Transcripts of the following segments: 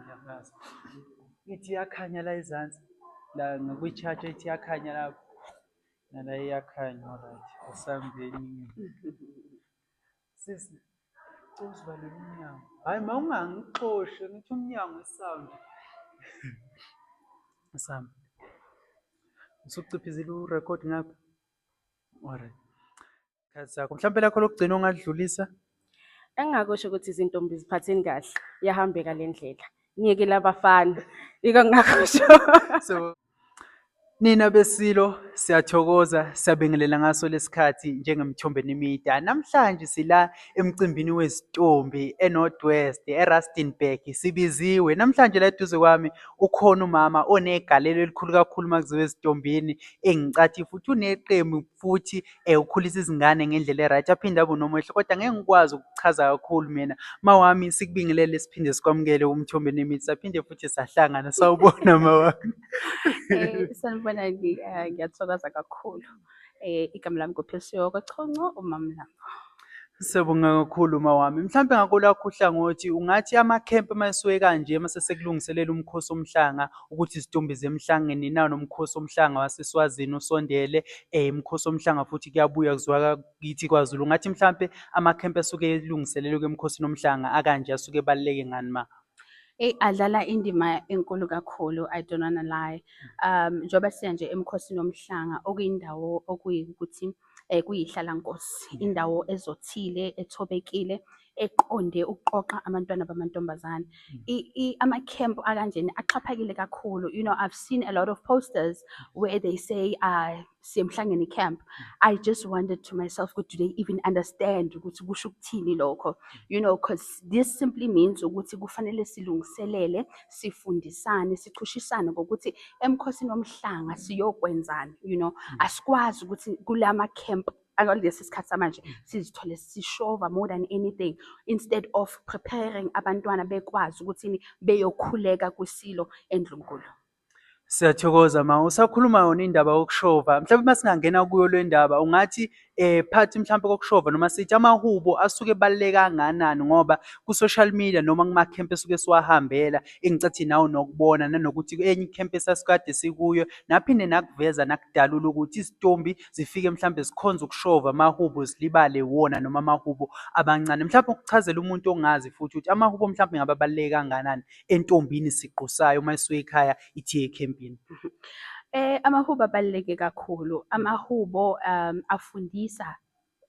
Ngiyafaza. Ithi iyakhanya la ezansi. La ngikuyi-charge ithi iyakhanya lapho. Nala iyakhanya alright. Asambeni. Sisi, cela usivalele umnyango. Hayi ma ungangixoshi, ngithi umnyango isound. Asamba. Usuciphizile urecord ngapha? Alright. izikhathi zakho mhlawumpe lakho lokugcina ongadlulisa engingakusho ukuthi izintombi ziphatheni kahle yahambeka le ndlela niyekele abafana yiko ngingakusho so nina besilo siyathokoza siyabingelela ngaso lesikhathi njengemthombe nemida namhlanje sila emcimbini wezitombi eNorthwest eRustenburg sibiziwe namhlanje la eduze kwami ukhona umama onegalelo elikhulu kakhulu makuziwe ezitombini engicathi futhi uneqembu futhi ukhulisa izingane ngendlela e-right aphinde abe unomehlo kodwa ngeke ngikwazi ukuchaza kakhulu mina. Mawami sikubingelele siphinde sikwamukele umthombe nemithi saphinde futhi sahlangana sawubona mawami. Eh, sanibona eh, ngiyathokoza kakhulu. Eh, igama lami kuphilisiwe kwaChonco umamlambo. Siyabonga kakhulu mawami. Mhlawumbe ngakolakho uhlangothi ungathi amakhempe uma esuke kanje uma sesekulungiselela umkhosi omhlanga ukuthi izitumbi zemhlangeni nawo nomkhosi omhlanga waseSwazini usondele eh umkhosi omhlanga futhi kuyabuya kuzwa kithi kwaZulu. Ungathi mhlawumbe amakhempe asuke elungiselelwe emkhosini omhlanga akanje asuke ebaluleke ngani ma? Eyi adlala indima enkulu kakhulu I don't wanna lie. Um njengoba siya nje emkhosini omhlanga okuyindawo okuyikuthi eh, kuyihlalankosi indawo ezothile ethobekile eqonde ukuqoqa abantwana bamantombazane hmm. ama-camp akanjena axhaphakile kakhulu you know i've seen a lot of posters where they say uh, siyemhlangene camp i just wondered to myself ukuthi do they even understand ukuthi kusho ukuthini lokho you know because this simply means ukuthi kufanele silungiselele sifundisane sichushisane ngokuthi emkhosini womhlanga siyokwenzani you know mm. asikwazi ukuthi kula ma camp akulesi sikhathi samanje mm. sizithole sishova more than anything instead of preparing abantwana bekwazi ukuthi beyokhuleka kwisilo endlunkulu Siyathokoza ma usakhuluma yona indaba yokushova mhlawumbe uma singangena kuyo le ndaba ungathi eh phathi mhlawumbe kokushova noma sithi amahubo asuke ebaluleke kanganani ngoba ku-social media noma kuma-camp esuke siwahambela engicathi nawo nokubona nanokuthi enye i-camp esasikade sikuyo naphinde nakuveza nakudalula ukuthi izitombi zifike mhlawumbe zikhonza ukushova amahubo zilibale wona noma amahubo abancane mhlawumbe ukuchazela umuntu ongazi futhi ukuthi amahubo mhlawumbe ngababaluleke kanganani entombini siqu sayo uma isuka ekhaya ithi ekhempini? Eh amahubo abaluleke kakhulu. Amahubo um afundisa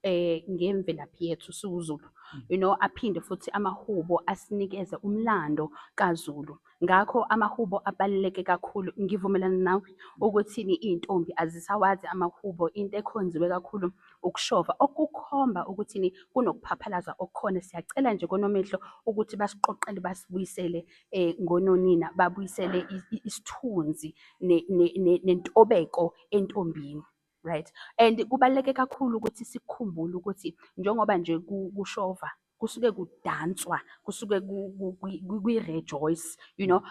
eh ngemvelaphi yethu siwuZulu. Mm. You know aphinde futhi amahubo asinikeze umlando kaZulu. Ngakho amahubo abaluleke kakhulu. Ngivumelana nawe ukuthi intombi azisawazi amahubo into ekhonziwe kakhulu ukushova okukhomba ukuthini kunokuphaphalaza okukhona siyacela nje konomehlo ukuthi basiqoqele basibuyisele eh ngononina babuyisele isithunzi nentobeko entombini right and kubaluleke kakhulu ukuthi sikhumbule ukuthi njengoba nje kushova kusuke kudanswa kusuke kwi-rejoice you know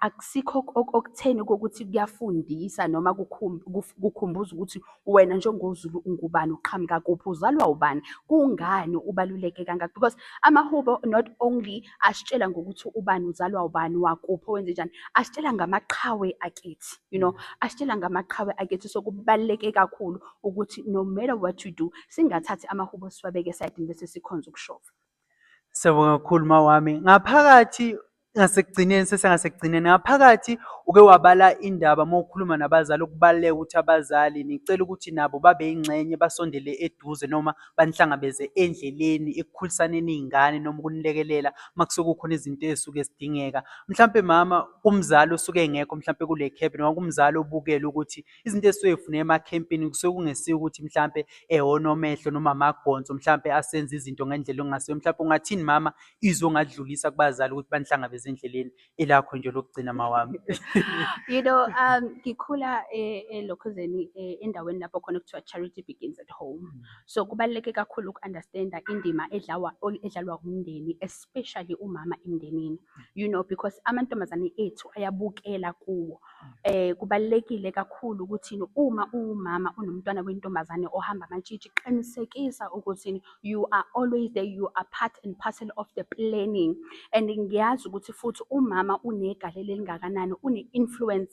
akusikho okutheni kokuthi kuyafundisa noma kukhumbuza ukuthi wena njengoZulu ungubani uqhamuka kuphi uzalwa ubani kungani ubaluleke kangaka because amahubo not only asitshela ngokuthi ubani uzalwa ubani wakuphi wenze njani asitshela ngamaqhawe akithi you know asitshela ngamaqhawe akethi so kubaluleke kakhulu ukuthi no matter what you do singathathi amahubo siwabeke esayidini bese sikhonza ukushova Siyabonga kakhulu mawami. Ngaphakathi ngasekugcineni sesengasekugcineni ngaphakathi uke wabala indaba uma ukhuluma nabazali ukubaluleka ukuthi abazali nicela ukuthi nabo babe yingxenye basondele eduze noma banihlangabeze endleleni ekukhulisaneni iy'ngane noma ukunilekelela uma kusuke kukhona izinto ey'suke zidingeka. Mhlampe mama kumzali osuke engekho mhlampe kule camp noma kumzali obukele ukuthi izinto ezisuke zifuneka emakhempini kusuke kungesiyo ukuthi mhlampe ehonomehlo noma amagonso mhlampe asenza izinto ngendlela okungasiyo mhlampe ungathini mama izwe ongadlulisa kubazali ukuthi banihlangabeze endleleni elakho nje lokugcina mawami you know um ngikhula eh, elokhuzeni eh, endaweni lapho khona kuthiwa charity begins at home mm. so kubaluleke kakhulu uku-understanda indima edlawa edlalwa umndeni especially umama emndenini you know because amantombazane ethu ayabukela kuwo eh kubalekile kakhulu ukuthi uma uwumama unomntwana wentombazane ohamba amantshitshi qinisekisa ukuthi you are always there you are part and parcel of the planning and ngiyazi ukuthi futhi umama unegalelo elingakanani une influence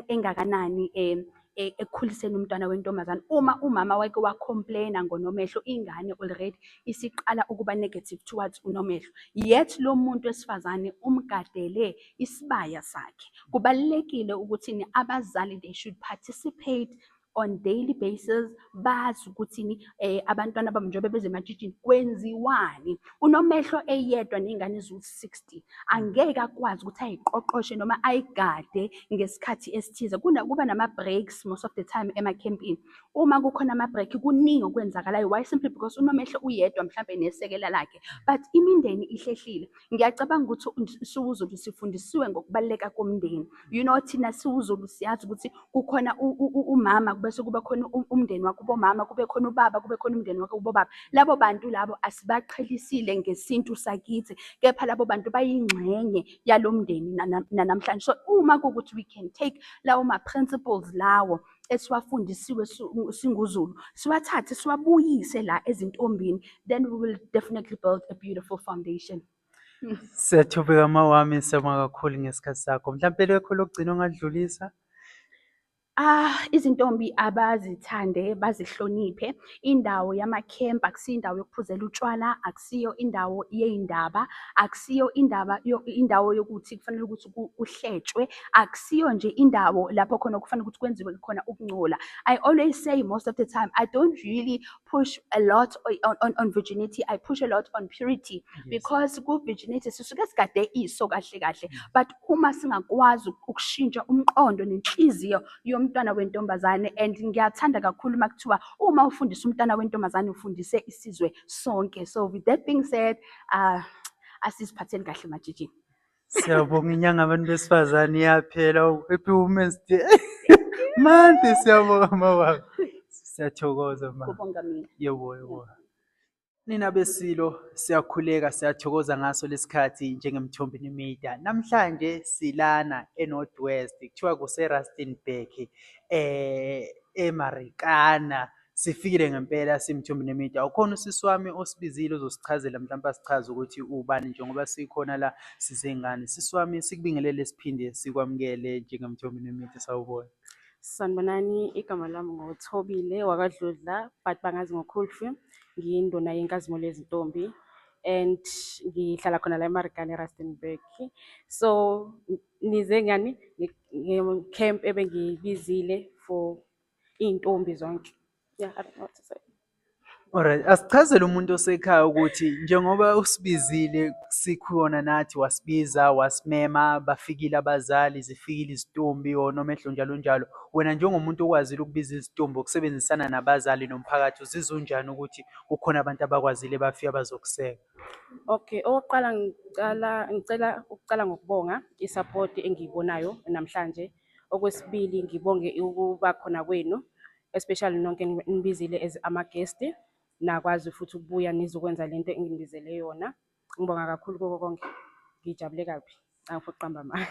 engakanani eh e, ekukhuliseni umntwana wentombazane uma umama wake wacomplaina ngonomehlo ingane already isiqala ukuba negative towards unomehlo yet lo muntu wesifazane umgadele isibaya sakhe kubalulekile ukuthi abazali they should participate on daily basis bazi ukuthi eh abantwana bami njengoba beze ematshitshini kwenziwani unomehlo eyedwa nezingane eziwu-60 angeke akwazi ukuthi ayiqoqoshe noma ayigade ngesikhathi esithize kuba nama-breaks most of the time emakhempini uma kukhona ama-break kuningi okwenzakalayo why simply because unomehlo uyedwa mhlawumbe nesekela lakhe but imindeni ihlehlile Ngiyacabanga ukuthi siwuZulu sifundisiwe ngokubaluleka komndeni. You know thina siwuZulu siyazi ukuthi kukhona umama bese kuba khona umndeni wakubo mama, kube khona ubaba, kube khona umndeni wakubo baba. Labo bantu labo asibaqhelisile ngesintu sakithi, kepha labo bantu bayingxenye yalo mndeni nanamhlanje. So uma kuwukuthi we can take lawo ma-principles lawo. esiwafundisiwe singuzulu siwathathe siwabuyise la ezintombini then we will definitely build a beautiful foundation Sethubeka mawami siyabonga kakhulu ngesikhathi sakho. Mhlampe lekho lokugcina ongadlulisa? Ah, izintombi abazithande bazihloniphe. Indawo yama-camp akusiyo indawo yokuphuzela utshwala, akusiyo indawo yey'ndaba, akusiyo indaba indawo yokuthi kufanele ukuthi uhletshwe akusiyo nje indawo lapho khona kufanele ukuthi kwenziwe khona ukungcola i always say most of the time i don't really push a lot on, on, on virginity i push a lot on purity yes. because ku virginity sisuke sigade iso kahle kahle mm. but uma singakwazi ukushintsha umqondo nenhliziyo yomntwana wentombazane and ngiyathanda kakhulu uma kuthiwa uma ufundisa umntwana wentombazane ufundise isizwe sonke so with that being said uh asiziphatheni kahle majijini Siyabonga inyanga abantu besifazane iyaphela happy women's day. Mande siyabonga mawabo. Siyathokoza ma. Kubonga mina. Yebo yebo. Nina besilo siyakhuleka siyathokoza ngaso lesikhathi njengemthombi nemida. Namhlanje silana eNorth West kuthiwa kuseRustenburg eh eMarikana Sifikile ngempela simthumbi nemida. Ukhona usisi wami osibizile uzosichazela mhlawumbe asichaze ukuthi ubani njengoba sikhona la sizengane. Sisi wami sikubingelele siphinde sikwamukele njengemthumbi nemida sawubona. Sanibonani, igama lami ngoThobile wakwaDludla but bangazi ngoKhulfi. Ngiyinduna yenkazimulo yezintombi and ngihlala khona la eMarikana eRustenburg. So nize ngani nge-camp ebengiyibizile for iy'ntombi zonke yeah, I don't know what to say. Alright, asichazele umuntu osekhaya ukuthi njengoba usibizile sikhona nathi wasibiza wasimema bafikile abazali zifikile izitumbi or noma edlo njalo njalo wena njengomuntu okwazile ukubiza izitumbi ukusebenzisana nabazali nomphakathi uzizwa unjani ukuthi kukhona abantu abakwazile bafika bazokuseka Okay, okokuqala ngicela ngicela ukuqala ngokubonga isapoti engiyibonayo namhlanje Okwesibili ngibonge ukuba khona kwenu especially nonke enibizile as ama-guest nakwazi futhi ukubuya nizokwenza le nto enginibizele yona. Ngibonga kakhulu koko konke, ngijabule kabi angifuni ukuqamba amanga.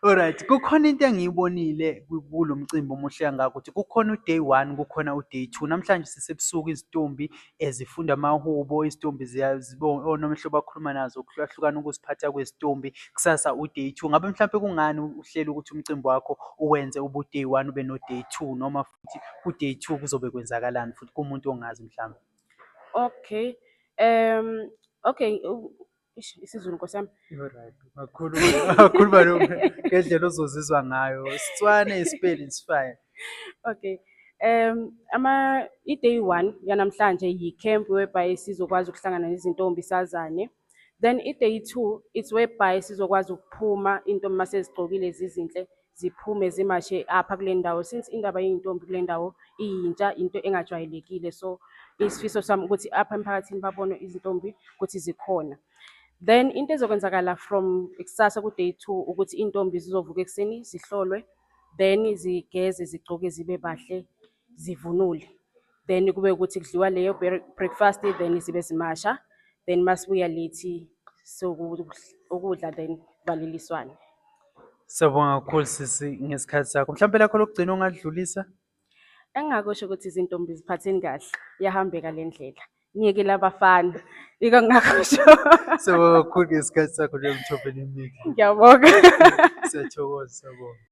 Alright, kukhona into engiyibonile ku- kulo mcimbi omuhle kangaka ukuthi kukhona u-day one, kukhona u-day two. Namhlanje sisebusuku izitumbi ezifunda amahubo izitombi onomehlo bakhuluma nazo kuhlukahlukana ukuziphatha kwezitombi kusasa u-day two ngabe mhlawumpe kungani uhlele ukuthi umcimbi wakho uwenze ubu-day one ube no-day two noma futhi ku-day two kuzobe kwenzakalani futhi kumuntu ongazi mhlawumbe okay um okay Ish isiZulu Nkosi yami. Alright. Makhulu makhulu balo ngendlela ozozizwa ngayo. Sitswane ispeli is fine. Okay. Um ama i-day 1 yanamhlanje yi-camp whereby sizokwazi ukuhlangana nezintombi sazane. Then i-day 2 it's whereby sizokwazi ukuphuma intombi masezigqokile zizinhle ziphume zimashe apha kule ndawo since indaba yey'ntombi kule ndawo iyintsha into engajwayelekile so isifiso sami ukuthi apha emphakathini babone izintombi ukuthi zikhona then into ezokwenzakala from ikusasa ku-day two ukuthi iy'ntombi zizovuka ekuseni zihlolwe then zigeze zigcoke zibe bahle zivunule then kube ukuthi kudliwa leyo breakfast then zibe zimasha then masibuya lethi sokudla then baleliswane Siyabonga kakhulu sisi ngesikhathi sakho. Mhlawumbe lakho lokugcina ongadlulisa? Engingakusho ukuthi izintombi ziphatheni kahle, iyahambeka le ndlela. Niyekele abafana, yiko engingakusho. Siyabonga kakhulu ngesikhathi sakho njengoba uthobele imithi. Ngiyabonga. Siyathokoza, siyabonga.